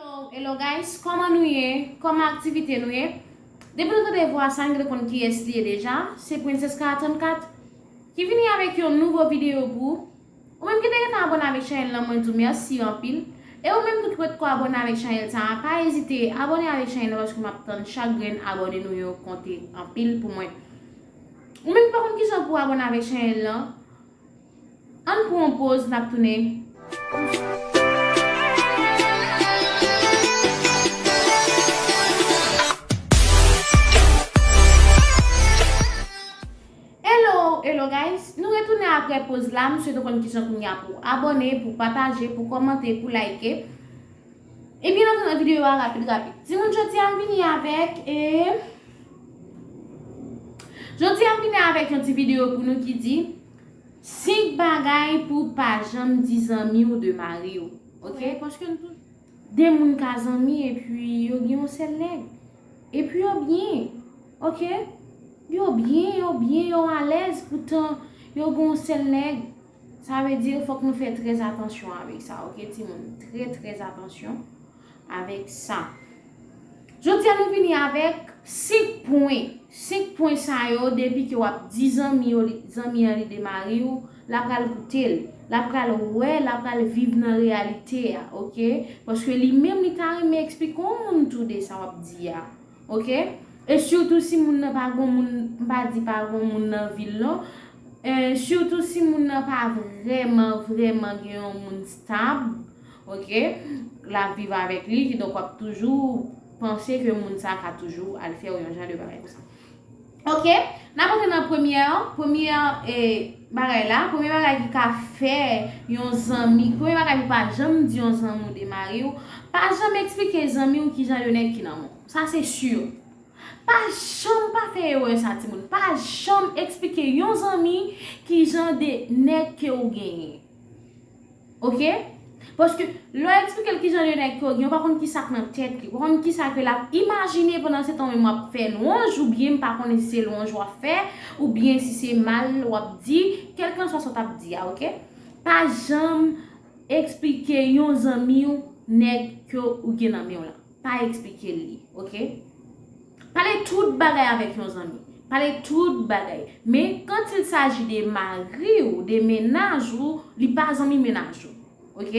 Hello hello guys kòman nou ye kòman aktivite nou ye depi nou tande vwa sa nou dwe konn kiyès li ye deja se princesca 34 ki vini avèk yon nouvo video pou ou ou menm ki te gentan abòne avèk chanèl lan mwen di w mèsi anpil e ou menm tou ki potko abòne avèk chanèl sa a pa ezite abòne avèk chanèl lan paske map tann chak grenn abòne nou yo konte anpil pou mwen ou menm ki pa konn kijan pou abòne avèk chanèl lan. Ann pran yon poz nap tounen. Hello hello guys nou retounen aprè poz la m swete w konn kijan kounye a pou w abòne pou w pataje pou w kòmante pou w layke ebyen n antre nan videyo a rapid rapid timoun jodi a m vini avèk jodi a m vini avèk yon ti videyo pou nou ki di 5 bagay pou w pa janm di zanmi w de mari w ok paske nou tout 2 moun ka zanmi epi yo gen yon sèl nèg epi yo byen ok yo byen yo byen yo alèz poutan yo gen yon sèl nèg sa vle di fòk nou fè trèzatansyon avèk sa ok timoun trètrèzatansyon avèk sa. Jodi a nou vini avèk 5 pwen, 5 pwen sa yo depi ke wap di zanmi yo li, zanmi an li de mari ou, la pral goute l, la pral wè, la pral viv nan reyalite a ok, paske li menm li ta renmen eksplike on moun tou de sa wap di a ok, e sitou si moun nan pa gon moun, m pa di pa gon moun nan vil non, e sitou si moun nan pa vrèman, vrèman gen yon moun stab. Ok lap viv avèk li kidonk wap toujou panse ke moun sa ka toujou al fèw yon jan de bagay konsa ok nap antre nan premyè premyè bagay la premyè bagay ki ka fè yon zanmi premyè bagay pou pa janm di yon zanmi ou de mariw pa janm eksplike zanmiw kijan yon nèg ki nan menw sa se si pa janm pa fè erè sa timoun pa janm eksplike yon zanmi kijan de nèg ke ou genyen. Ok Paske lè w eksplike l ki jan de nèg ke w gen, w pa konn ki sa k nan tèt li. W pa konn ki sa ke l ap imajine pandan se tan w menm w ap fè lwanj oubyen m pa konnen si se lwanj w ap fè oubyen si se mal w ap di. Kèlkanswa sa w t ap di a, ok. Pa janm eksplike yon zanmi w nèg ke w gen nan men w la. Pa eksplike l li, ok. Pale tout bagay avèk yon zanmi. Pale tout bagay. Men, kant il saji de mari ou, de mennaj ou, li pa zanmi mennaj ou. Ok?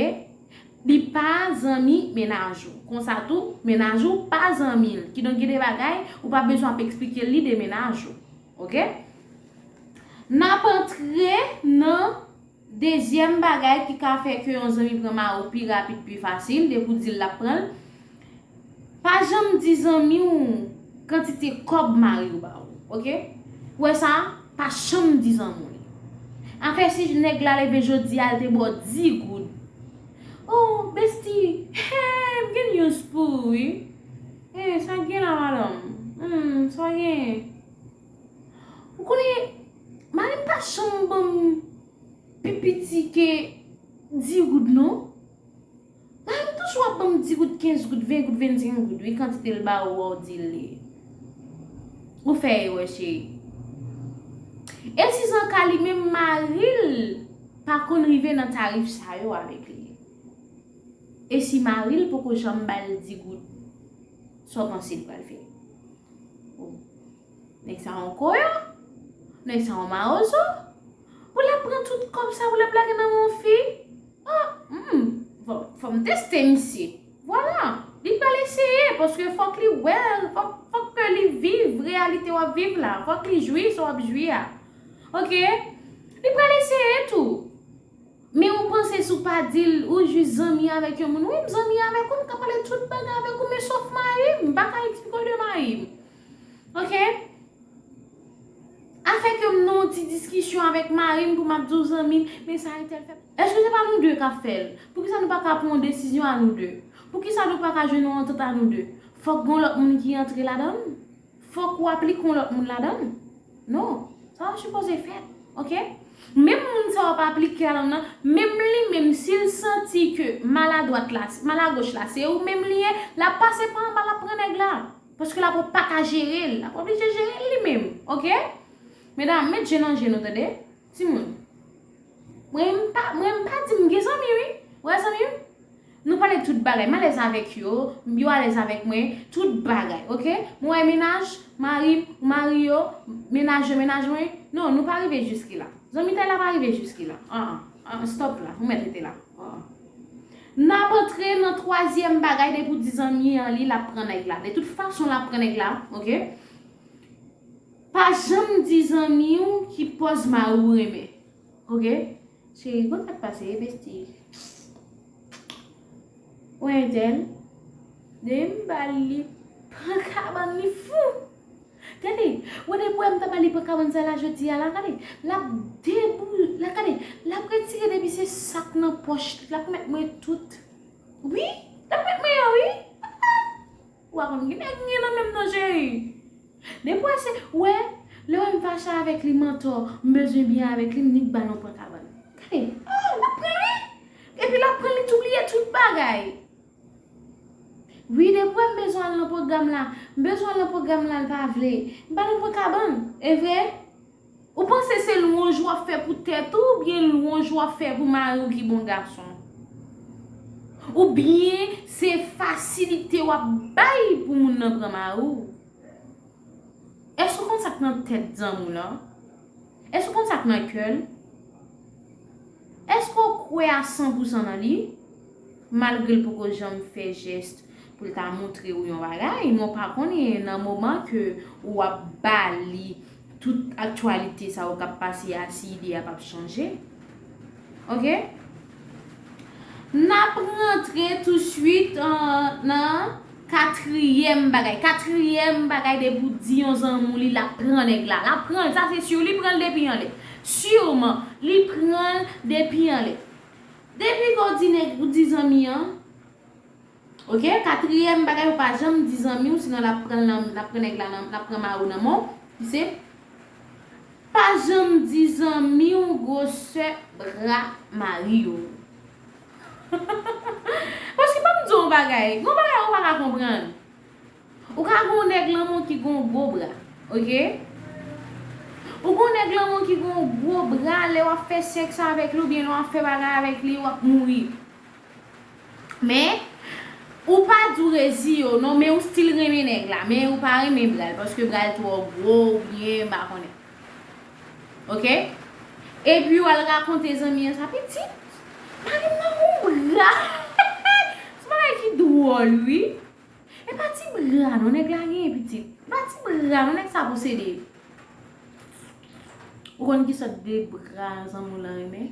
Li pa zanmi mennaj ou. Konsa tou, mennaj ou pa zanmi l. Kidonk gen de bagay, ou pa bezwen ap eksplike l li de mennaj ou. Ok? N ap antre nan. Dezyèm bagay ki ka fè ke yon zanmi pran mari w pi rapid pi fasil depi w di l l ap pran l, pa janm di zanmi w kantite kòb mari w ba w. Ok? Ou wè sa? Pa janm di zanmi w li. Afè si nèg la leve jodi a l te ba w 10 goud. Oh besti, hee m gen news pou ou wi. Hee sa k gen la madanm? Humm sa w gen? Ou konnen, mari m pa janm ban m pi piti ke di goud non. Mari m toujou ap ban m di goud, kenz goud, ven goud, vennsenk goud wi, kantite l ba ou a ou di l ye. Ou fè erè cheri. E si san ka li menm mari l pa konn rive nan tarif sa yo avèk li? E si mari l poko janm ba l di goud? Sa w panse li pral fè? Oh! Nèg sa yon koyo? Nèg sa yon mawozo? Pou l ap pran tout kòb sa pou l ap lage nan men yon fi? Oh! Humm! Bon, fò m teste misye. Vwala! Li pral eseye, paske fòk li wè, fòk ke li viv reyalite w ap viv la. Fòk li jwi sa w ap jwi a. Ok? Li pral eseye tou. Men ou panse si w pa di l ou jis zanmi avèk yon moun. Wi m zanmi avèk ou, m ka pale tout bagay avèk ou men sof mari m. M pa ka eksplike w de mari m. Ok. Afè ke m nan yon ti diskisyon avèk mari m pou m ap di w zanmi m, men sa entèl fè. Èske se pa nou de k ap fè l? Poukisa nou pa ka pran yon desizyon a nou de? Poukisa nou pa ka jwenn yon antant a nou de? Fòk gen yon lòt moun ki antre ladan l? Fòk ou aplike yon lòt moun ladann? Non, sa pa sipoze fèt, ok? Menm moun sa wap aplike ladann nan, menm li menm si l santi ke mal a dwat la, mal a goch la se ou menm li ye, lap pase pa anba lap pran nèg la. Paske lap paka jere l, lap oblije jere l li menm, ok? Medam, met je nan je nou tande. Timoun. Mwen m pa, mwen m pa di m gen zanmi wi. Vrè zanmi m, nou pale tout bagay. M alèz avèk yo, yo alèz avèk mwen, tout bagay. Ok? Mwen wè mennaj, mari m, ou mari yo, mennaj yo, mennaj mwen. Non, nou pa rive jiski la. Zanmitay la pa rive jiski la. An an. An an, stop la. Ou mèt rete la. An an. N ap antre nan twazyèm bagay depi w di zanmi an li l ap pran nèg la. De tout fason l ap pran nèg la. Ok? Pa janm di zanmi w ki pòz mari w renmen ok cheri kòman sak pase e besti pfff wè entèl depi m bal li pran kabann li fou tande wè depi wè m ta bal li pran kabann sa la jodi a la gade lap debou la gade lap retire depi se sak nan pòch li lap mèt mwen tout wi lap mèt mwen yo wi aah Ou pa konn gnlè gnlè nan menm non cheri. Depi wè se, wè, lè wè m fache avèk li m antò, m bezwen byen avèk li m nik bal yon pran kabann. Gade, oh lap pran li! Epi lap pran li tou bliye tout bagay. Wi depi wè m bezwen al nan pwogram la, m bezwen al nan pwogram la l pa vle. M bal yon pran kabann. Evre? Ou panse se lwanj wap fè pou tèt ou oubyen lwanj wap fè pou mariw ki bon gason? Oubyen se fasilite wap bay pou moun nan pran mariw? Èske ou konn sak nan tèt zanmi w lan? Èske ou konn sak nan kèl? Èske w kwè a san pou san nan li? Malgre l poko janm fè jèst pou l ta montre ou yon bagay, men w pa konnen nan moman ke ou ap ba li tout aktyalite sa yo k ap pase a si ide a p ap chanje. Ok. N ap rantre tousuit nan. Katriyèm bagay katriyèm bagay depi ou di yon zanmou li lap pran nèg la lap pranl sa se sur li pranl depi anlè surman li pranl depi anlè depi ke w di nèg ou di zanmi an ok katriyèm bagay ou pa janm di zanmi w si nan lap pranl nan lap pran nèg la nan lap pran mari w nan men w ki se pa janm di zanmi w gwosè bra mari w. Paske banm di w yon bagay, gon bagay ou pa ka konprann. Ou ka gen yon nèg lanmou ki gen yon gwo bra, ok. Ou gen yon nèg lanmou ki gen yon gwo bra lè w ap fè sèks avèk li oubyen lè w ap fè bagay avèk li w ap mouri. Men, ou pa di w rezi yo non men ou still renmen nèg la men ou pa renmen bra l paske bra l twò gwo oubyen m pa konnen. Ok Epi wal rakonte zanmi an sa pitit Marim nan gon bra Son bagay ki dwòl wi E pa ti bra non nèg la genyen pitit E pa ti bra non nèg sa posede Ou konn ki sòt de bra zanmi w lan renmen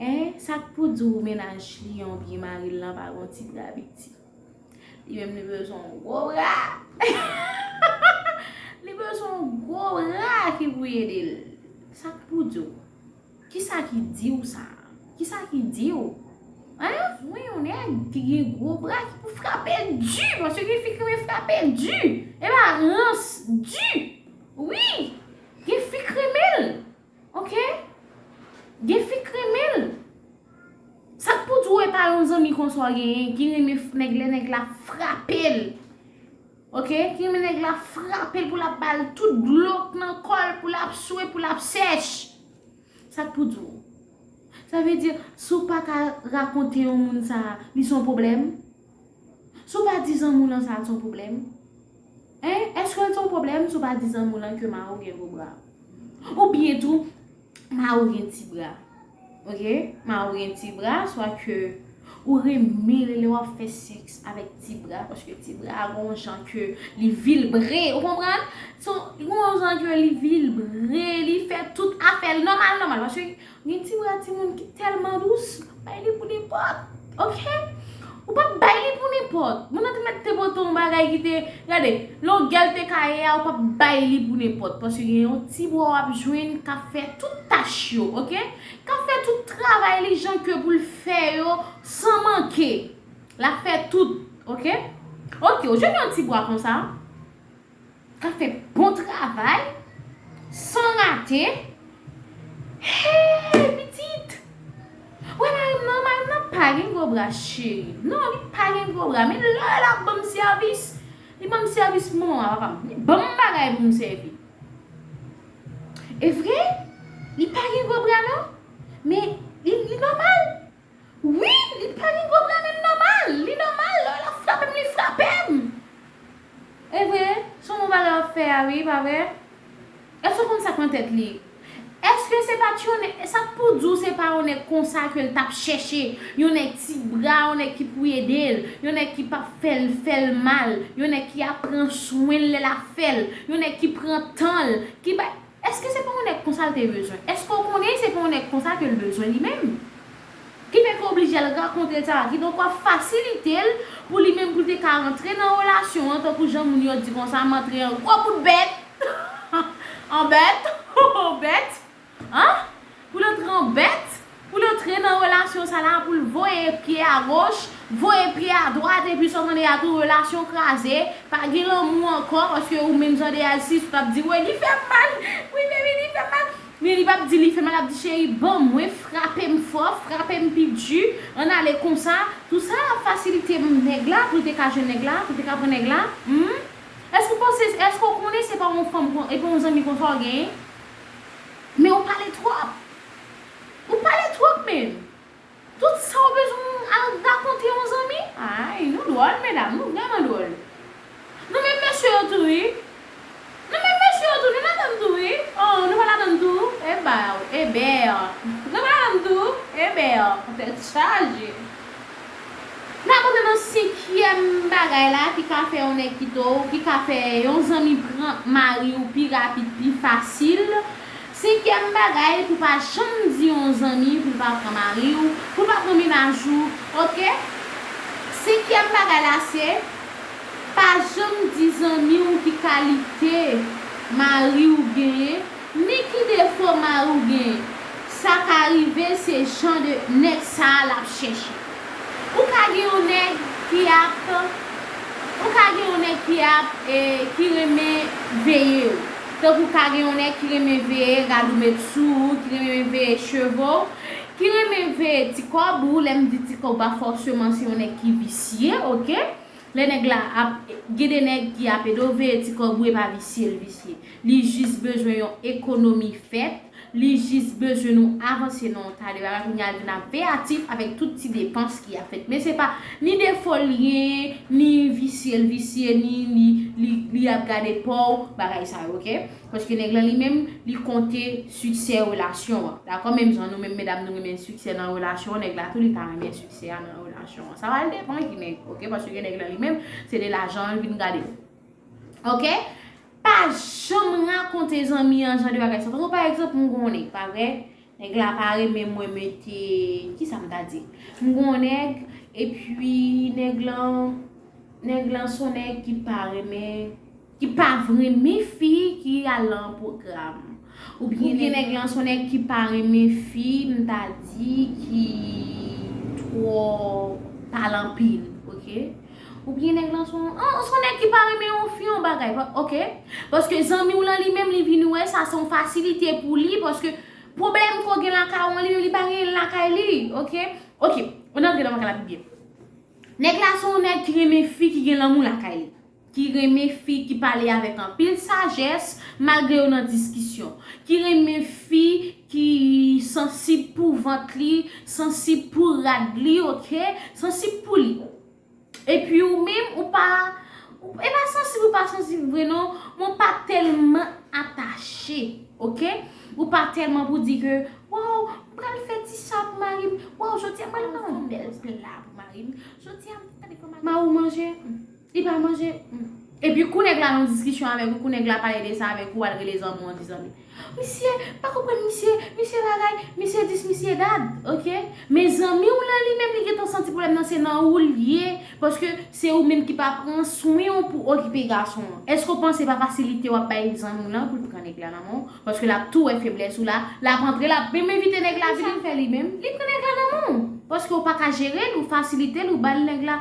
Hein sak pou diw menaj li an oubyen maril lan pa gon ti bra piti. Li menm li bezwen yon gwo bra. Li bezwen yon gwo bra ki pou ede l. Sa k pou di w? Ki sa ki di w sa? Ki sa ki di w? Hein? Mwen yon nèg ki gen gwo bra ki pou frape l di. Paske gen fi ki renmen frape l di. E pa rans di. Wi! Gen fi k renmen l. Ok Gen fi k renmen l Sak pou di w e pa yon zanmi konsa w genyen ki renmen nèg lè nèg la ap frape l Ok ki renmen nèg la ap frape l pou l ap ba l tout dlo k nan kò l pou l ap swe pou l ap sèch Sak pou di w Sa vle di si w pa ka rakonte yon moun sa li son pwoblèm. Si w pa di zanmi w lan sa a t s on pwoblèm? Hein? Èske l t s on pwoblèm si w pa di zanmi w lan ke mari w gen gwo bra? Oubyen tou, mari w gen ti bra? Ok, mari w gen ti bra, swa ke ou renmen li lè w ap fè sèks avèk ti bra, paske ti bra a gon w jan ke li vilbre, ou konprann? Son, li gon w jan ke li vilbre, li fè tout afè l nòmal nòmal, paske. Gen ti bra timoun ki tèlman dous, bay li pou nenpòt, ok. Ou pa bay li pou nenpòt. Moun nan te mèt te pote yon bagay ki te, gade, longè l te ka ye a, ou pa bay li pou nenpòt. Paske gen yon ti bra w ap jwenn k ap fè tout tach yo, ok. K ap fè tout travay li jan ke pou l fè yo san manke. L ap fè tout, ok. Ok, ou jwenn yon ti bra konsa. Kap fè bon travay San rate Hey pitit Ou wè marim nan marim nan pa gen gwo bra cheri non li pa gen gwo bra men lè lap banm sèvis li banm sèvis manman papam li banm bagay poum sèvi evre li pa gen gwo bra non men li nòmal. Wi li pa gen problèm em nòmal li nòmal lè lap frapem li frapem evre son bon bagay wap fè a wi pa vre èske ou konn sak nan tèt li èske se pat yon nèg sak pou diw se pa yon nèg konsa kel tap chèche yon nèg ti bra yon nèg ki pou edel yon nèg ki pap fèl fèl mal yon nèg ki ap pran swenl lè lap fèl yon nèg ki pran tanl ki bay Eske se pa yon nèg konsa l te bezwen? Eske w konnen se pa yon nèg konsa ke l bezwen li menm? Ki fè ke oblije al rakonte l sa? Kidonk w ap fasilite l pou li menm pou l te ka rantre nan relasyon an tankou jan moun yo di konsa m antre an gwo bout bèt, an bèt, ho ho bèt, an? Pou l tranbèt, pou l antre nan relasyon sa la, pou l voye pye a goch, voye pye a dwat epi sa w tande a tou relasyon kraze, pa gen lanmou ankò paske ou menm jan de Alsisse ou t ap di woy li fè m mal, wi baby li fè m mal, men li p ap di li fè mal l ap di cheri ban mwen, frape m fò, frape m pi di, ann ale konsa, tou sa ap fasilite m nèg la pou l te ka jwenn nèg la, pou l te ka pran nèg la, humm. Èske ou panse, èske ou konnen se pa yon fanm, e pa yon zanmi konsa w genyen? Men ou pale twòp! Ou pale twòp menn! Tout sa ou bezwen al rakonte yon zanmi? Ayy nou dwòl medam, nou vrèman dwòl! Nou menm mesye yo tou wi! Nou menm mesye yo tou, nou ladann tou wi! Ohh nou pa ladann tou? Ebaw! Eber! Nou pa ladann tou? Eber! Tèt chaje! Nap antre nan senkyèm bagay la ki ka fè yon nèg kite w, ki ka fè yon zanmi pran mari w pi rapid, pi fasil. Senkyèm bagay pou pa janm di yon zanmi pou l pa pran mari w, pou l pa pran menaj ou. Ok. Senkyèm bagay la se, pa janm di zanmi w ki kalite mari w genyen. Men ki defo mariw genyen. Sa ka rive se jan de nèg sa lap chèche. Ou ka gen yon nèg ki ap ou ka gen yon nèg ki ap ki renmen veyew. Tankou ka gen yon nèg ki renmen veye rad ou met sou ou, ki renmen veye cheve w, ki renmen veye ti kòb ou, lèm di ti kòb pa fòseman se yon nèg ki visye ok. Lè nèg la ap gen de nèg ki ap ede w veye ti kòb ou e pa visye l visye. Li jis bezwen yon ekonomi fèt, li jis bezwen nou avanse nan yon ta de bagay kounye a l vin ap veyatif avèk tout ti depans ki ap fèt. Men se pa ni defo l genyen, ni visye l visye, ni li li ap gade po w, bagay sa yo ok. Paske nèg lan li menm li konte siksè relasyon an. Dakò menm jan nou menm medam nou renmen siksè nan relasyon an, nèg la tou li ta renmen siksè a nan relasyon an. Sa va depan ki nèg ok paske gen nèg lan li menm se de lajan l vin gade ok. Pa janm rakonte zanmi an jan de bagay sa. Tankou pa egzanp m gon nèg pa vre, nèg la pa renmen mwen mete kisa m ta di? M gon nèg epi nèg lan nèg lan son nèg ki pa renmen ki pa renmen fi ki al lan pwogram. Ou byen nèg lan son nèg ki pa renmen fi m ta di ki twò pale anpil ok ou byen nèg lan son son nèg ki pa renmen yon fi yon bagay ok paske zanmi w lan li menm li vin wè sa son fasilite pou li paske pwoblèm ke w gen lakay ou an li menm li pa genyen l lakay li ok ok ann antre nan bagay la pi byen nèg la son nèg ki renmen fi ki gen lanmou lakay li. ki renmen fi ki pale avèk anpil sajès malgre yo nan diskisyon, ki renmen fi ki sansib pou vant li, sansib pou rad li ok, sansib pou li. Epi ou menm ou pa, e pa sansib ou pa sansib vre non, men ou pa tèlman atache ok, ou pa tèlman pou di ke waw m pral fè ti sa pou mari m, waw jodi a m pral fè yon bèl pla pou mari m, jodi a m pral fè yon pla pou mari m, mari w manje? Li pa manje humm. Epi kou nèg la nan yon diskisyon avèk ou, kou nèg la pale de sa avèk ou, ou al rele zanmi w an di zanmi. Misye, m pa konprann misye, misye bagay, misye dis, misye dat. Ok. Men zanmi w lan li menm li gentan santi pwoblèm nan se nan ou l ye. Paske se ou menm ki pa pran swen w pou okipe gason an. Èske w panse se pa fasilite w ap bay zanmi w lan pou l pran nèg la nan men w? Paske l ap tou wè feblès ou la, l ap antre, l ap menm envite nèg la vini. Epi sa l fè li menm? Li pran nèg la nan men w. Paske ou pa ka jere l, ou fasilite l, ou ba l nèg la.